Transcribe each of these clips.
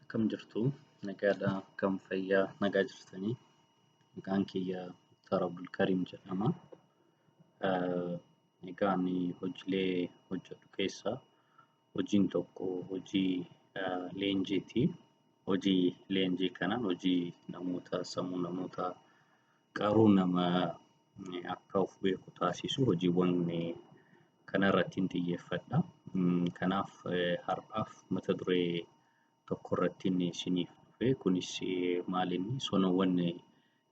akkam jirtu nagaadha akkam fayyaa nagaa jirtanii maqaan kiyya Muktaar Abdulkariim jedhama egaa ani hojiilee hojjedhu keessaa hojiin tokko hojii leenjiiti hojii leenjii kanaan hojii namoota sammuu namoota qaruu nama akka of beeku taasisu hojiiwwan kanarrattiin xiyyeeffadha. Kanaaf har'aaf mata duree tokkorrattiin isiniif dhufe kunis maalinni sonawwan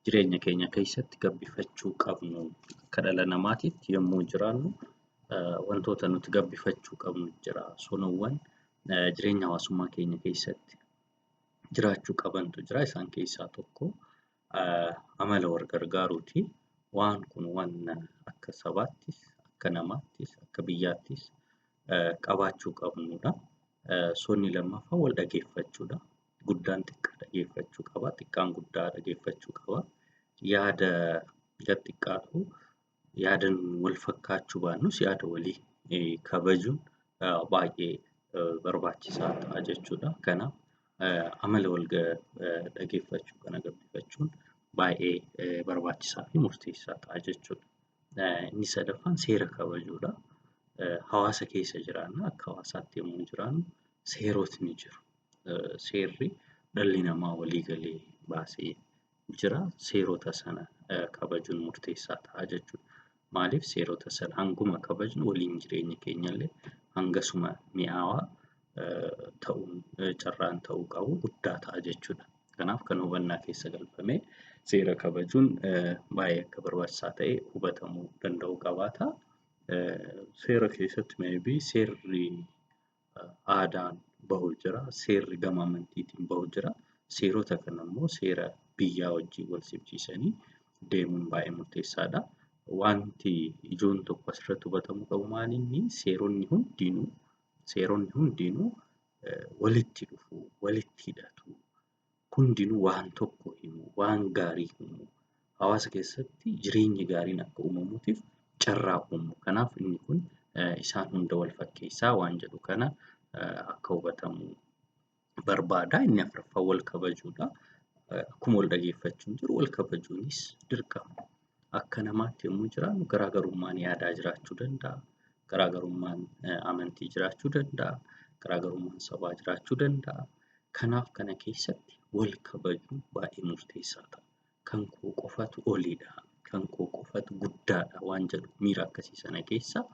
jireenya keenya keessatti gabbifachuu qabnu akka dhala namaatiitti yommuu jiraannu wantoota nuti gabbifachuu qabnu jira. Sonawwan jireenya hawaasummaa keenya keessatti jiraachuu qabantu jira. Isaan keessaa tokko amala wal gargaaruuti. Waan kun waan akka sabaattis, akka namaattis, akka biyyaattis qabaachuu qabnudha. Sonni lammaffaa wal dhageeffachuudha. Guddaan xiqqaa dhageeffachuu qaba, xiqqaan guddaa dhageeffachuu qaba. Yaada xiqqaatu Yaadan wal fakkaachuu baannus yaada walii kabajuun baay'ee barbaachisaa ta'a jechuudha. Kanaaf amala wal dhaggeeffachuu kana gabbifachuun baay'ee barbaachisaa fi murteessaa ta'a jechuudha. Inni sadaffaan seera kabajuudha. Hawaasa keessa jiraanna akka hawaasaatti yommuu jiraannu seerotni jiru. Seerri dhalli namaa walii galee baasee jira. Seerota sana kabajuun murteessaa ta'a jechuudha. Maaliif seerota sana hanguma kabajnu waliin jireenyi keenyallee hangasuma mi'aawaa ta'uun carraan ta'uu qabu guddaa ta'a jechuudha. Kanaaf kan hubannaa keessa galfamee seera kabajuun baay'ee akka barbaachisaa ta'e hubatamuu danda'uu qabaata. Seera keessatti maybe seerri aadaan bahu jira, seerri gama amantiitiin bahu jira. Seerota kana immoo seera biyyaa wajjin wal simsiisanii deemuun baay'ee murteessaadha. Wanti ijoon tokko asirratti hubatamuu qabu maal inni seeronni hundinuu seeronni hundinuu walitti dhufu, walitti hidhatu. hundinuu waan tokko himu, waan gaarii himu. Hawaasa keessatti jireenyi gaariin akka uumamuutiif carraa uumu. Kanaaf inni kun isaan hunda wal fakkeessaa waan jedhu kana akka hubatamu barbaada. Inni afuraffaa wal kabajuudha. Akkuma wal dhageeffachuun jiru wal kabajuunis dirqama. akka namaatti yommuu jiraannu garaagarummaan yaadaa jiraachuu danda'a. Garaagarummaan amantii jiraachuu danda'a. Garaagarummaan sabaa jiraachuu danda'a. Kanaaf kana keessatti wal kabajuun baay'ee murteessaa ta'a. Kan koo qofatu oliidha. Kan koo qofatu guddaadha waan jedhu miira akkasii sana keessa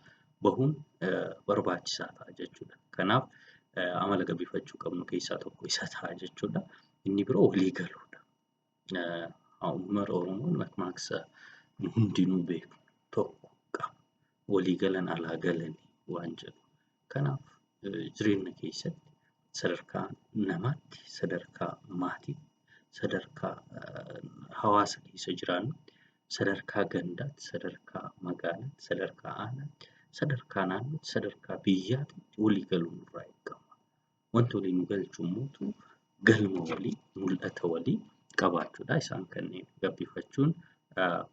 bahuun barbaachisaa ta'a jechuudha. Kanaaf amala gabbiifachuu qabnu keessaa tokko isa ta'a jechuudha. Inni biroo walii galuudha. Uummata Oromoo makmaaksa nu hundinuu beeknu tokko qaba. Walii galan alaa galanii waan jedhu. Kanaaf jireenya keessatti sadarkaa namaatti, sadarkaa maatiitti, sadarkaa hawaasa keessa jiraannutti, sadarkaa gandaatti, sadarkaa magaalaatti, sadarkaa aanaatti, sadarkaa naannootti, sadarkaa biyyaatti walii galuun nurraa eegama. Wanti walii nu galchu immoo galma walii, mul'ata walii qabaachuudha. Isaan kanneen gabbifachuun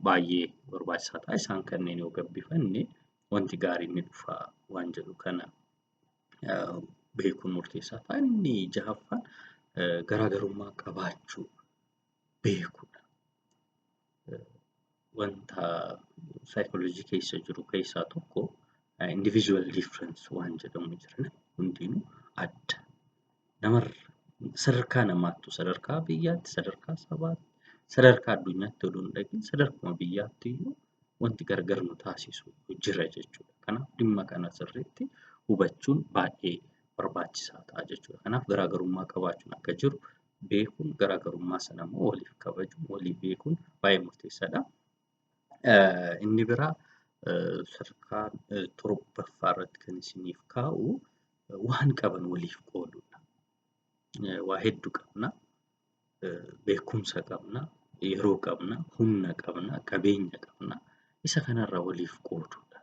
baay'ee barbaachisaa ta'a. Isaan kanneen yoo gabbifanne wanti gaariin ni dhufa waan jedhu kana beekuun murteessaa ta'a. Inni jahaffaan garaagarummaa qabaachuu. beekudha. Wanta saayikooloojii keessa jiru keessaa tokko individual difference waan jedhamu jira. Hundinuu adda. Namarra sadarkaa namaattu sadarkaa biyyaatti sadarkaa sabaatti sadarkaa addunyaatti odoo hin dhaqin sadarkuma biyyaatti iyyuu wanti gargar nu taasisu jira jechuudha. Kanaaf dhimma kana sirriitti hubachuun baay'ee barbaachisaa ta'a jechuudha. Kanaaf garaagarummaa qabaachuun akka jiru beekuun garaagarummaa sana immoo waliif kabajuun walii beekuun baay'ee murteessaadha. Inni biraa sadarkaa torbaffaa irratti kan isiniif kaa'u waan qaban waliif qoodudha. Waa hedduu qabna, beekumsa qabna, yeroo qabna, humna qabna, qabeenya qabna. Isa kanarraa waliif qoodudha.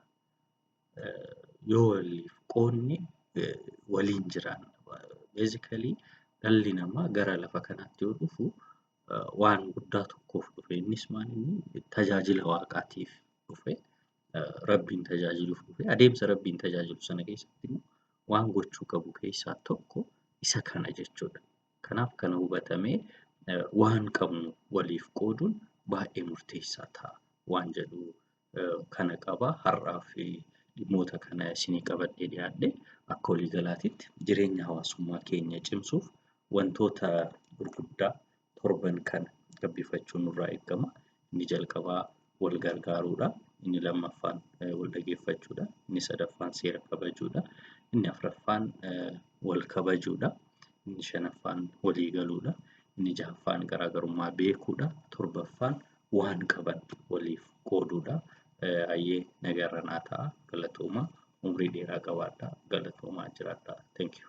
yoo waliif qoodne waliin jiraanna. Basically dhalli namaa gara lafa kanaatti yoo dhufu waan guddaa tokkoof dhufe. Innis maalinni tajaajila waaqaatiif dhufe. Rabbiin tajaajiluuf dhufe. Adeemsa Rabbiin tajaajilu sana keessatti immoo waan gochuu qabu keessaa tokko isa kana jechuudha. Kanaaf kana hubatamee waan qabnu waliif qooduun baay'ee murteessaa ta'a waan jedhu kana qaba. Har'aaf dhimmoota kana isinii qabadhee dhiyaadhe akka waliigalaatitti jireenya hawaasummaa keenya cimsuuf wantoota gurguddaa torban kana gabbifachuun nurraa eegama. Inni jalqabaa wal gargaaruudha. Inni lammaffaan wal dhageeffachuudha. Inni sadaffaan seera kabajuudha. Inni afraffaan wal kabajuudha. Inni shanaffaan walii galuudha. Inni jahaffaan garaagarummaa beekuudha. Torbaffaan waan qaban waliif qooduudha. Hayyee nagarra naa ta'a galatooma umrii dheeraa qabaadha galatoomaa jiraadha. Thank you.